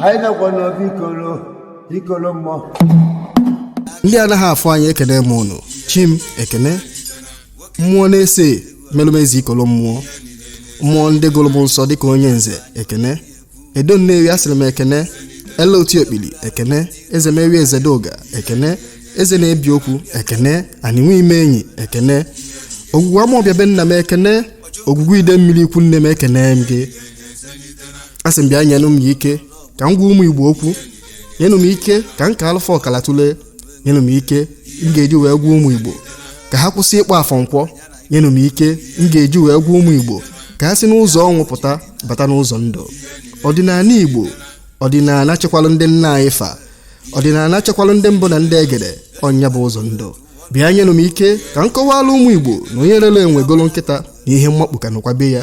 anyị nọkwa n'obi ikolo ikolo mmụọ ndị anaghị afụ anya ekene m unu chi m ekene mmụọ na-ese melu m ezi ikolo mmụọ mmụọ ndị gụrụ m nsọ dịka onye nze ekene edo nnewi asịrị m ekene ele otu okpili ekene ezemewi ezedoga ekene eze na-ebi okwu ekene anị nwe ime enyi ekene ogwugwu amaọbịa be nna m ekene ogwugwu idemili ikwu nne m ekene m gị asị m bịa nyenụ m ike ka m gwa ụmụ igbo okwu nyenụ m ike ka m kaalụ fa ọkala tụlee nyenụ m ike m ga-eji wee gwa ụmụ igbo ka ha kwụsị ịkpọ afọ nkwọ nyenụ m ike m ga-eji wee gwa ụmụ Igbo ka ha si n'ụzọ ọnwụ pụta bata n'ụzọ ndụ ọdịnala Igbo ọdịnala chekwalụ ndị nna anyị fa ọdịnala chekwalụ ndị mbụ na ndị egede ọ nya bụ ụzọ ndụ bịa nyenụ m ike ka m kọwalụ ụmụ Igbo na onye rere enwe golo nkịta na ihe mmakpu ka nọkwa be ya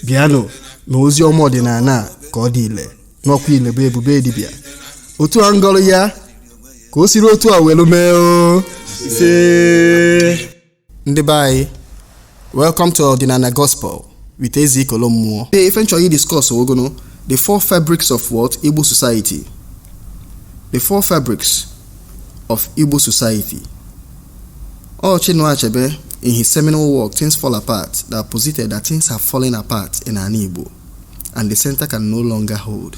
bịanụ na ozi ọma ọdịnala ka ọ dị ile na ọ kwa ile bụ ebube dibịa otu a ngọrọ ya ka o siri otu a welu mee o ndị be anyị welcome to ọdịnala gospel with ezi ikolo mmụọ today ife nchọrọ idiscuss ọ gụnụ the four fabrics of what igbo society the four fabrics of igbo society ọ chinua achebe in his seminal work things fall apart that posited that things have fallen apart in anị igbo and the center can no longer hold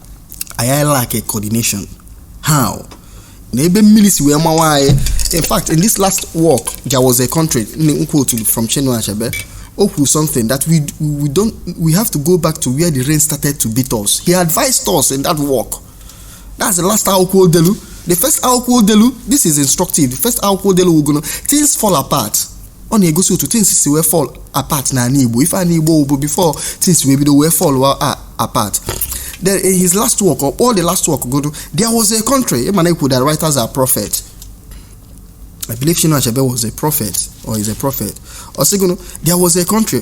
anyị lack a coordination how na ebe mmiri si wee mawa anyị in fact in this last work there was a country nkwutulu from Chinua Achebe o kwuru something that we we don't we have to go back to where the rain started to beat us he advised us in that work that's the last akwụkwọ o delu the first akwụkwọ o delu this is instructive the first akwụkwọ o delu wụ gụnụ things fall apart ọ na-egosi otu things si wee fall apart n'anị Igbo ife anị Igbo wụbu before things wee bido wee fall apart then in his last work ọ kpọọ the last work gụnụ there was a country ị ma a na-ekwu that writers are prophets I believe Chinua Achebe was a prophet or is a prophet. Ọ sị gụnụ, there was a country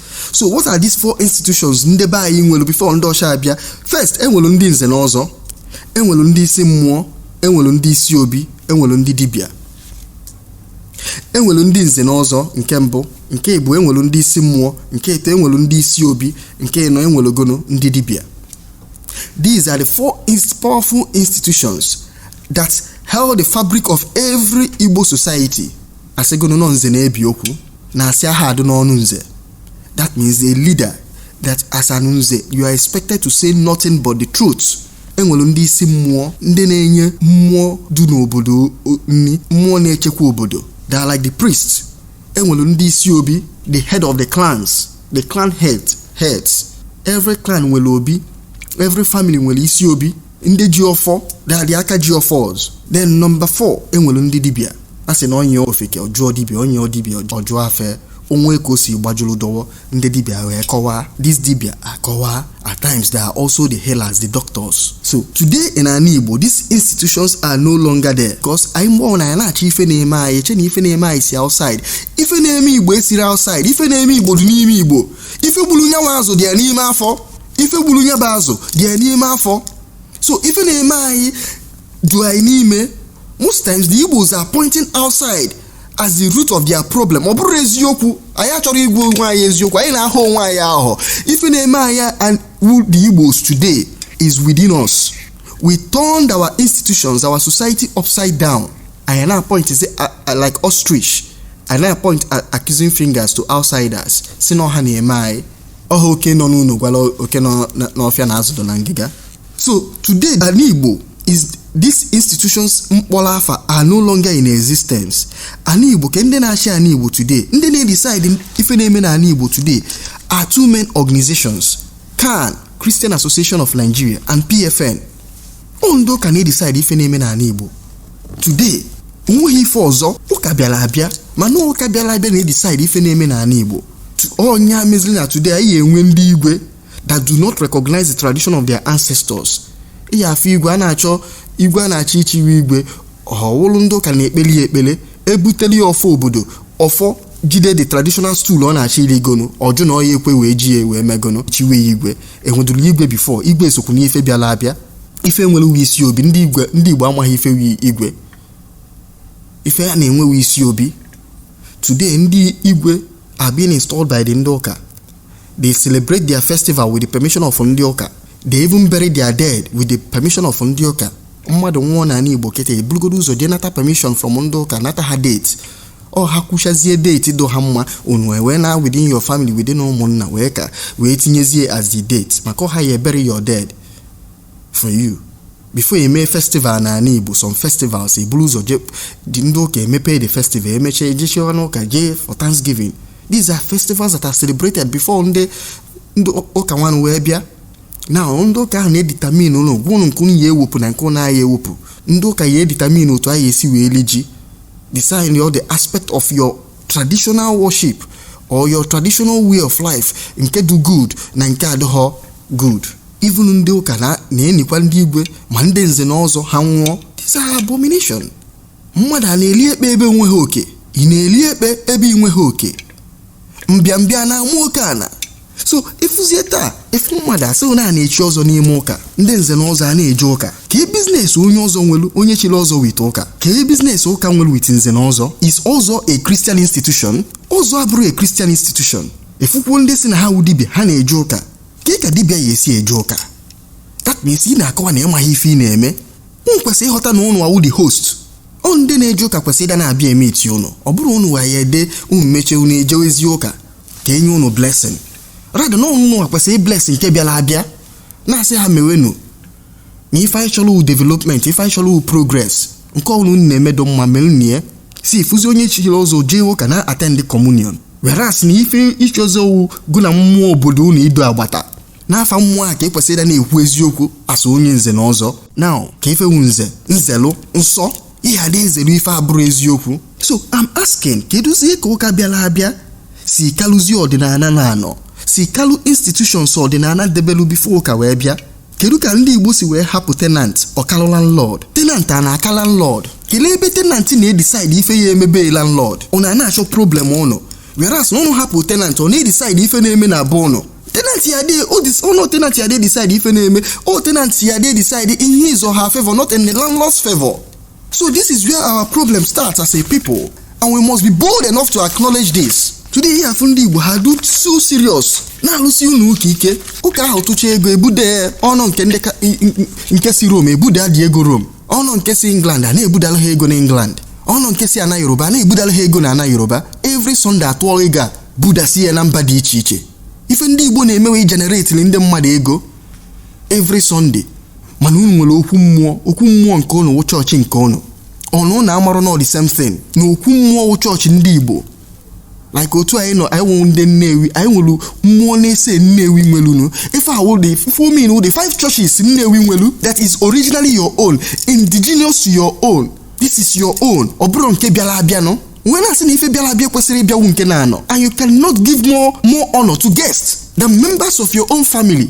so what are these four institutions ndị be anyị nwelu before ndị ọcha abịa first enwere ndị nze na ọzọ enwere ndị isi mmụọ enwere ndị isi obi enwere ndị dibịa enwere ndị nze na ọzọ nke mbụ nke ịbụọ enwere ndị isi mmụọ nke ịtọ enwere ndị isi obi nke ịnọ enwere gụnụ ndị dibịa these are the four ins- powerful institutions that held the fabric of every igbo society a sị gụnụ na ọ nze na-ebi okwu na asị aha adu n'ọnụ nze that means a leader that as an nze you are expected to say nothing but the truth enwere ndị isi mmụọ ndị na-enye mmụọ du n'obodo nni mmụọ na-echekwa obodo they are like the priest enwere ndị isi obi the head of the clans the clan head heads every clan nwere obi every family nwere isi obi ndị ji ọfọ they are the aka ji ọfọs then number 4 enwere ndị dibịa a sị na o nyie ofeke ọ jụọ dibịa o nyie dibịa ọ jụọ afa o nwee ka o si gbajuru dọwọ ndị dibịa wee kọwaa these dibịa akọwaa at times they are also the healers the doctors so today in anị igbo these institutions are no longer there because anyị mgbe ọwụna anyị na-achọ ife na-eme anyị eche na ife na-eme anyị si outside ife na-eme igbo esiro outside ife na-eme igbo dị n'ime igbo ife gburu nya wụ azụ dị ya n'ime afọ ife gburu ya bụ azụ dị ya n'ime afọ so ife na-eme anyị du anyị n'ime most times the igbos are pointing outside as the root of their problem ọ bụrọ eziokwu anyị achọrọ ịgwa onwe anyị eziokwu anyị na-aghọ onwe anyị aghụghọ ife na-eme anyị anyị wụ the igbos today is within us we turned our institutions our society upside down anyị na-apoint say uh, uh, like ostrich anyị na-apoint uh, accusing fingers to outsiders sị na ọ ha na-eme anyị ọ wụ oke nọ n'ụnọ gwala oke nọ na- n'ọfịa na azụ du na ngịga so today anị igbo is these institutions m kpọrọ afa are no longer in existence anị igbo kee ndị na-achị anị igbo today ndị na-edecide ife na-eme na anị igbo today are two main organizations can christian association of nigeria and pfn ọ ndị ụka na-edecide ife na-eme n'anị Igbo today onweghị ife ọzọ ụka bịara abịa mana ụka bịara abịa na-edecide ife na-eme n'anị Igbo ọ nya mezili na today anyị enwe ndị igwe that do not recognize the tradition of their ancestors ị ya afụ igwe a na-achọ igwe a na-achọ ichiwe igwe ọ wụlụ ndị ụka na-ekpeli ya ekpele ebuteli ya ọfọ obodo ọfọ jide the traditional stool ọ na-achọ irigonu ọ jụ na ọ ya ekwe wee ji ya wee megonu chiwe ya igwe enwedurọ igwe before igwe sokwu na ife bịala abịa ife e nwere wụ isi obi ndị igwe ndị igbo amaghị ife wụ igwe ife a na-enwe wụ isi obi today ndị igwe are being installed by the ndị ụka they celebrate their festival with the permission of ndị ụka they even bury their dead with the permission of ndị ụka mmadụ nwụọ n'anị igbo kịta eburugodo ụzọ jee nata permission from ndị ụka nata ha date ọ ha kwuchazie date du ha mma unu wee na within your family within ụmụnna wee ka wee tinyezie as the date maka ọ ha ya ebury your dead for you before you mee festival na anị igbo some festivals eburu ụzọ je dị ndị ụka emepe the festival emechaa ejechie ụnọ ụka jee for thanksgiving these are festivals that are celebrated before ndị ndị ụka nwanụ wee bịa now ndị ụka ahụ na-edetermine ụlọ gwụnụ nke unu ya ewepụ na nke unu ya ewepụ ndị ụka ya edetermine otu a ya esi wee li ji Design your the aspect of your traditional worship or your traditional way of life nke dụ good na nke adịghọ good. Even ndị ụka na-enikwa ndị igwe ma ndị nze na ọzọ ha nwụọ. These are abomination. Mmadụ a na-eli ekpe ebe e nweghị oke. Ị na-eli ekpe ebe ị nweghị oke. Mbịambịa na-ama oke ana. so ịfụzie taa ịfụ mmadụ a sị na a na-echi ọzọ n'ime ụka ndị nze na ọzọ a na-eje ụka ka business onye ọzọ nwelu onye chiri ọzọ with ụka ka business ụka nwelu with nze na ọzọ is ọzọ a Christian institution ọzọ abụrọ a Christian institution ịfụkwuo ndị sị na ha wụ dibịa ha na-eje ụka kee ka dibịa ya esi eje ụka that means ị na-akọwa na ịmaghị ife ị na-eme ụnụ kwesịrị ịghọta na ụnụ awụ the host ọ ndị na-eje ụka kwesịrị ịda na-abịa emeeti ụnụ ọ bụrọ ụnụ wa ya ede unu mechie unu ejewezie ụka ka e nye unu blessing rather na unu nwa kwesịrị ịblessi nke bịala abịa na-asị ha mewenu na ife anyị chọlọ wu development ife anyị chọlọ wu progress nke ọwụna unu na-eme dụ mma melunu ya so ịfụzi onye chili ọzọ jee ụka na attend communion whereas na ife ichi ọzọ wu gụ na mmụọ obodo unu ido agbata n'afa mmụọ a ka e kwesịrị ịda na-ekwu eziokwu as onye nze na ọzọ na ka ife wu nze nzelu nsọ ị ya adị ezelu ife abụrọ eziokwu so I'm asking kedụzie ka ụka bịala abịa si kalụzie ọdịnana na-anọ si kalụ institutions ọdịnana debelu before ụka wee bịa kedu ka ndị igbo si wee hapụ tenant ọ kalụ landlord tenant a na-aka landlord kelee ebe tenant na-edecide ife ya eme be landlord ụnụ a na-achọ problem ụnụ whereas na ụnụ hapụ tenant ọ na-edecide ife na-eme na be ụnụ tenant ya adị edis- no tenant ya adị edecide ife na-eme o tenant ya adị edecide in his or her favour not in the landlord's favour so this is where our problem starts as a people and we must be bold enough to acknowledge this today ị ya afụ ndị igbo ha dụ so serious na-alụsi ụnọ ụka ike ụka ahụ tụcha ego ebude ọnụ nke ndị ka- nke si Rome ebude adị ego Rome ọnụ nke si England a na-ebudala ha ego na England ọnụ nke si ana Yoruba a na-ebudala ha ego na ana Yoruba every Sunday a tụọ ego a budasi ya na mba dị iche iche ife ndị Igbo na-eme wụ ịgeneratelụ ndị mmadụ ego every Sunday mana unu nwelu okwu mmụọ okwu mmụọ nke unu wụ chọọchị nke unu unu na amarọ na ọ the same thing na okwu mmụọ wụ chọọchị ndị Igbo like otu anyị nọ anyị wụ ndị nnewi anyị nwere mmụọ n'ise nnewi nwelunu ife a wụ the ife I mean wụ the five churches nnewi nwelu that is originally your own indigenous to your own this is your own ọ bụrọ nke bịala abịa no wee na-asị na ife bịala abịa kwesịrị ịbịakwu nke na-anọ and you cannot give more honor to guests than members of your own family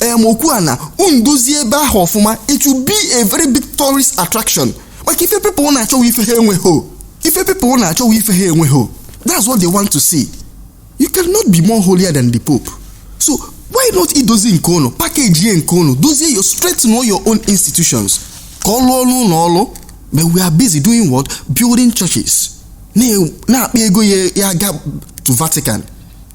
em okwu a na unu dozie ebe ahụ ọfụma it will be a very big tourist attraction maka ife people na-achọ wụ ife ha enweghị ife people na-achọ wụ ife ha enweghị that's what they want to see you cannot be more holier than the pope so why not dozie nke unu pakejie nke unu dozie ya strengthen your own institutions ka ọ lụọrọ unu ọrụ but we are busy doing what building churches na-akpa ego ya ya ga to vatican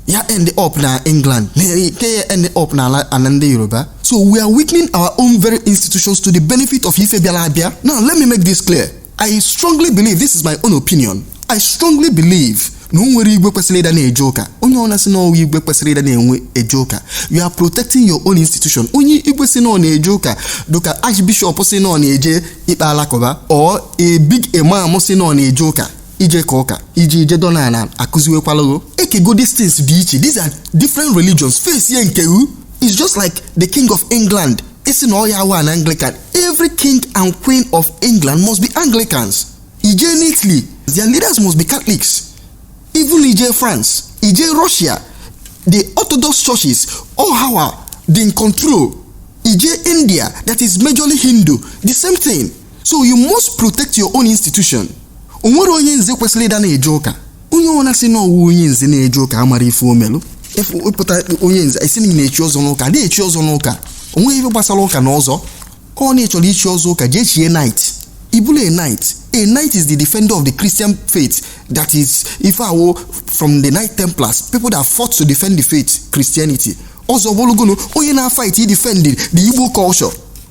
ya end up na england nke ya end up na ana ndị yoruba so we are weakening our own very institutions to the benefit of ife bịara abịa now let me make this clear i strongly believe this is my own opinion i strongly believe na o nwerọ igwe kwesịrị ịda na-eje ụka onye ọna sị na ọ wụ igwe ekwesịrọ ịda na-enwe eje ụka you are protecting your own institution onye igwe sị na ọ na-eje ụka dịka archbishop sị na ọ na-eje ikpe alakụba or a big imam sị na ọ na-eje ụka ije ka ụka ije ije dọ na ala akụziwekwalago ekego these things dị iche these are different religions face ye nke u is just like the king of england isi na ọya awa na anglican every king and queen of england must be anglicans ije n'italy their leaders must be catholics even ije france ije russia the orthodox churches all hawa dị in control ije india that is majorly hindu the same thing so you must protect your own institution o nwerọ onye nze kwesịrị ịda na-eje ụka onye ọna sị na ọ wụ onye nze na-eje ụka amarọ ife o melụ ị pụta onye nze ị sị na e chi ọzọ n'ụka a dị echi ọzọ n'ụka o nweghị ife gbasara ụka na ọzọ ọ na ị chọrọ ichi ọzọ ụka jee chie knight ị bụlụ a knight a knight is the defender of the christian faith that is ife ọ wụ from the knight templars people that fought to defend the faith christianity ọzọ bụrụgonu onye na-fight defend the igbo culture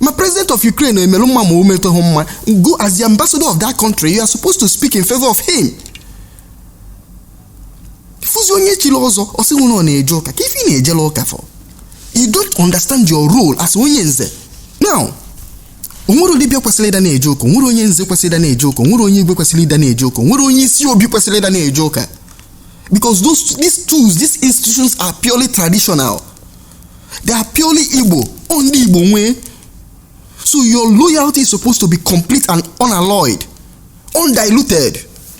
ma president of ukraine emelụ mma ma o meteghị mma gị as the ambassador of that country you are supposed to speak in favor of him fụzi onye chiri ọzọ ọ sị na ọ na-eje ụka kee ife ị na-ejelụ ụka for you don't understand your role as onye nze now o nwerọ dibịa kwesịrị ịda na-eje ụka o nwerọ onye nze kwesịrị ịda na-eje ụka o nwerọ onye igwe kwesịrị ịda na-eje ụka o nwerọ onye isi obi kwesịrị ịda na-eje ụka because those these stools these institutions are purely traditional they are purely igbo ọ ndị igbo nwee so your loyalty is supposed to be complete and unalloyed undiluted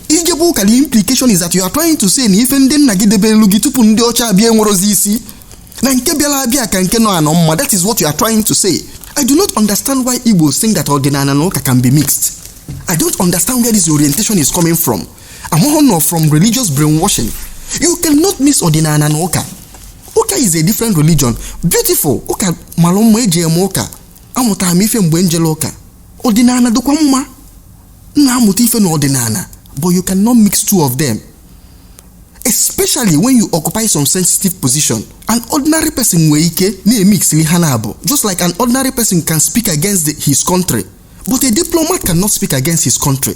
ị jebe ụka the implication is that you are trying to say na ife ndị nna gị debelụ gị tupu ndị ọcha abịa enwerọzi isi na nke bịara abịa ka nke nọ anọ mma that is what you are trying to say i do not understand why igbos think that ọdịnala na ụka can be mixed i don't understand where this orientation is coming from amara m na ọ from religious brainwashing you cannot mix ọdịnala na ụka ụka is a different religion beautiful ụka mara mma eje m ụka amụtara m ife mgbe m jere ụka ọdịnala dịkwa mma m na-amụta ife na ọdịnala but you cannot mix two of them especially when you occupy some sensitive position an ordinary person nwere ike na-emixili ha n'abọ just like an ordinary person can speak against the- his country but a diplomat cannot speak against his country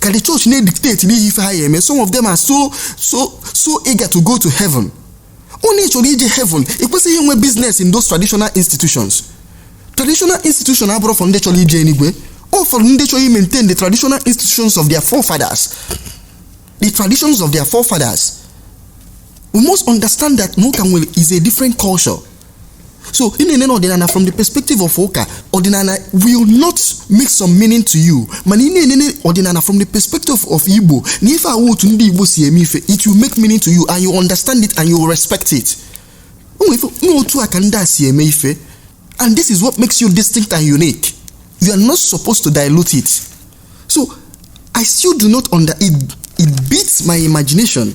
ka the church na-edictate n'ihi ife ha ya eme some of them are so so so eager to go to heaven onye chọrọ ije heaven ekwesịghị inwe business in those traditional institutions traditional institution abụrọ for ndị chọrọ ije eluigwe ọ for ndị chọrọ maintain the traditional institutions of their forefathers the traditions of their forefathers we must understand that na ụka is a different culture so ị na-enene ọdịnala from the perspective of ụka ọdịnala will not make some meaning to you mana ị na-enene ọdịnala from the perspective of igbo na ife a wụ otu ndị igbo si eme ife it will make meaning to you and you understand it and you respect it n'otu a ka ndị a si eme ife and this is what makes you distinct and unique you are not supposed to dilute it so i still do not under it, it beats my imagination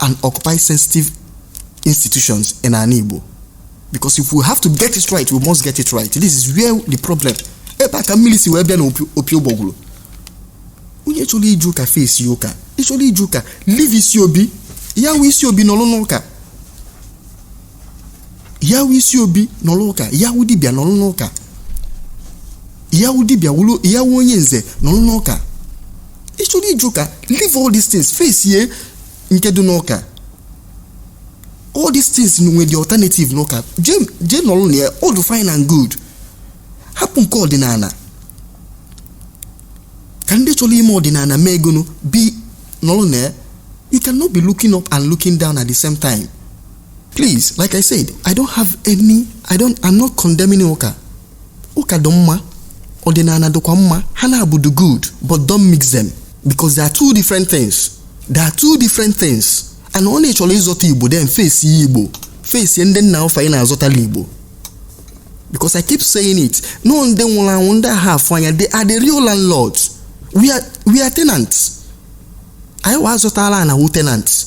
and occupy sensitive institutions in ana Igbo. Because if we have to get it right, we must get it right. This is where the problem. ebe a ka mmiri si wee bịa na opi ụgbọgwụrụ onye chọrọ ije ụka face ụka ị chọrọ ije ụka leave isi obi ya wụ isi obi nọlụ n'ụka ya wụ isi obi nọrọ ụka ya wụ dibịa nọrọ n'ụka ya wụ dibịa wụrụ ya wụ onye nze nọrọ n'ụka ị chọrọ ije ụka leave all these things face ye nke dị n'ụka all these things nwere the alternative n'ụka jee jee nọrọ na ya all the fine and good hapụ nke ọdịnala ka ndị chọrọ ime ọdịnala mee egonu bi nọrọ na ya you cannot be looking up and looking down at the same time please like i said i don't have any i don't i'm not condemning ụka ụka dị mma ọdịnala dịkwa mma ha naabọ dị good but don't mix them because they are two different things they are two different things and onye chọrọ ịzọta igbo then face ya igbo face ndị nna ofe anyị na-azọtala igbo because i keep saying it na ndị nwụrụ anwụ ndị anaghị afụ anya they are the real landlords we are, we are tenants anyị wa azọtala na wụ tenants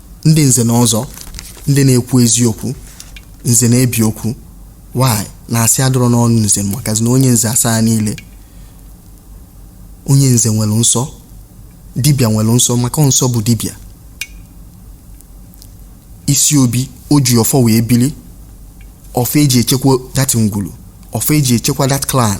ndị nze na ọzọ ndị na-ekwu eziokwu nze na-ebi okwu why na asị adọrọ n'ọnụ nze makazi na onye nze asaana ile onye nze nwere nsọ dibịa nwere nsọ maka nsọ bụ dibịa isi obi o ji ọfọ wee bili ọfọ eji echekwa that ngwulu ọfọ eji echekwa that clan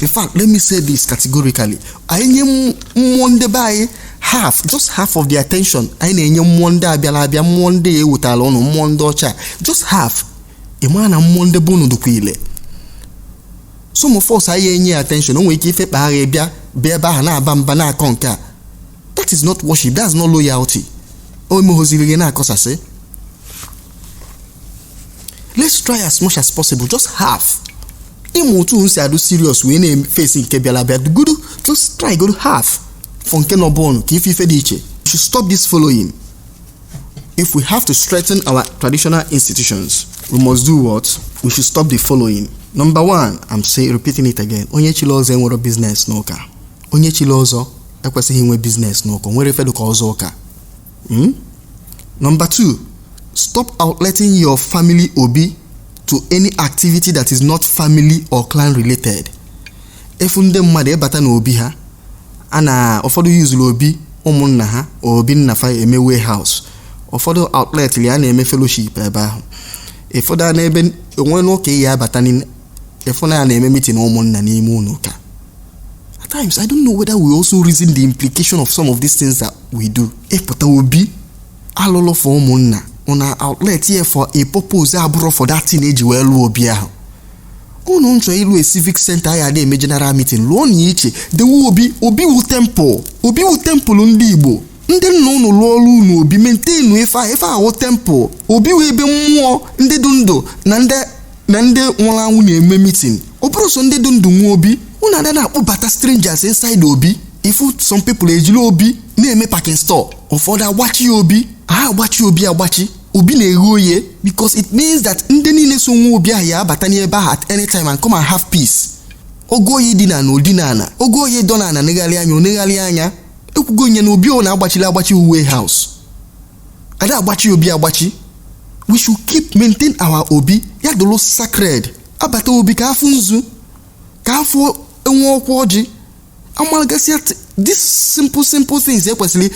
in fact let me say this categorically anyị nye mmụọ ndị be anyị half just half of the attention anyị na-enye mmụọ ndị abịala abịa mmụọ ndị ya ewetala ụnụ mmụọ ndị ọcha just half ị mara na mmụọ ndị be ụnụ dịkwa ile some of us anyị enye ya attention o nwere ike ife kpa agha bịa bịa ebe ahụ na-aba mba na-akọ nke a that is not worship that's not loyalty o emeghoziri gị na-akọsasị let's try as much as possible just half ịmụ otu m si adụ serious wee na-efesi nke bịara abịa gudu just try go half for nke nọ bọọlụ ka ife ife dị iche we should stop this following if we have to strengthen our traditional institutions we must do what we should stop the following number one i'm say repeating it again onye chiri ọzọ enwero business n'ụka onye chiri ọzọ ekwesịghị inwe business n'ụka o nwero ife dụ ka ọzọ ụka Hmm? Number two, stop outletting your family obi to any activity that is not family or clan related. Ị fụ ndị mmadụ ị bata n'obi ha a na ụfọdụ yuzuru obi ụmụnna ha obi nna fa eme warehouse ụfọdụ outlet ya a na-eme fellowship ebe ahụ ụfọdụ a n'ebe o nwe n'ụka ị ya-abata n'ime ị fụ na ya na-eme meeting ụmụnna n'ime ụnọ ụka at times i don't know whether we also reason the implication of some of these things that we do ịpụta obi a lụlụ for ụmụnna unu outlet ya for a purpose abụrọ for that thing e ji wee lụọ obi ahụ unu na-achọ ịlụ a civic center a ya-adị eme general meeting lụọ nya iche dewe obi obi wu temple obi wu temple ndị igbo ndị nna unu lụọrọ unu obi maintain ife a ife a wu temple obi wu ebe mmụọ ndị dị ndụ na ndị na ndị nwụrụ anwụ na-eme meeting ọ bụrọ sọ ndị dị ndụ nwe obi unu ada na-akpọbata strangers inside obi ị fụ some people ejiri obi na-eme packing store ụfọdụ agbachie obi ada agbachi obi agbachi obi na-eghe oye because it means that ndị niile so nwe obi ahụ ya-abata n'ebe ahụ at any time and come and have peace ogo oyi dị na na ọdịnana ogo oyi dọ na ana negharịa anya o negharịa anya ekwugo nye na obi ọwụna a gbachiri agbachi wu warehouse ada agbachi obi agbachi we should keep maintain our obi ya dụrụ sacred a bata obi ka a fụ nzu ka a fụ enwe ọkwa ọjị amalagasịa t- this simple simple things ekwesịrị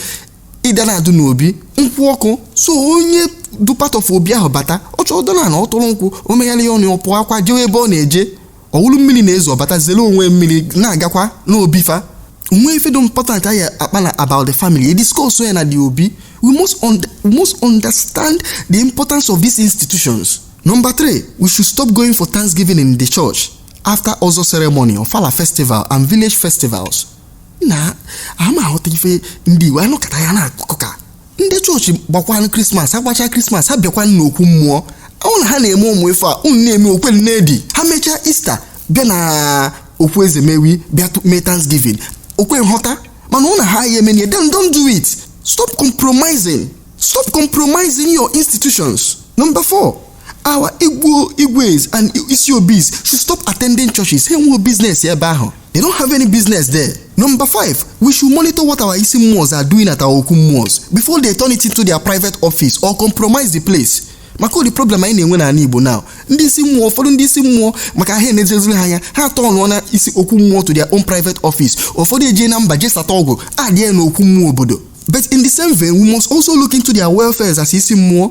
ịda na-adụ n'obi nkwụ ọkụ so onye du part of obi ahụ bata ọ chọọ dọlụ ana ọ tụrụ nkwụ o megharịa ọnụ ọ pụakwa jewe ebe ọ na-eje ọ wụrụ mmiri na-ezo ọ bata zere onwe mmiri na-agakwa n'obi fa o nwe ife dị important a ya-akpa na about the family e discuss ya na the obi we must, un we must understand the importance of these institutions number three we should stop going for thanksgiving in the church after ọzọ ceremony ofala festival and village festivals na ama aghọta ife ndị igbo anụkata ya n'akụkọ ka ndị chọọchị gbakwanụ krismas ha gbachaa krismas ha bịakwanụ n'okwu mmụọ ọ wụ na ha na-eme ụmụ ife a unu na-eme o kwe na-edi ha mechaa easter bịa na okwu ezemewi bịa tụ- mee thanksgiving o kwe nghọta mana ọ wụ na ha aya eme nye then don't do it stop compromising stop compromising your institutions number four our igbo igwes and isi obis should stop attending churches ha enweghị business ebe ahụ they don't have any business there number five we should monitor what our isi mmụọs are doing at our okwu mmụọs before they turn it into their private office or compromise the place maka ụdị problem anyị na-enwe n'ala igbo now ndị isi mmụọ ụfọdụ ndị isi mmụọ maka ha enezeziri ha anya ha aturnụọna isi okwu mmụọ to their own private office ụfọdụ ejee na mba jesata ọgwụ adịghị na okwu mmụọ obodo but in the same vein we must also look into their welfares as isi mmụọ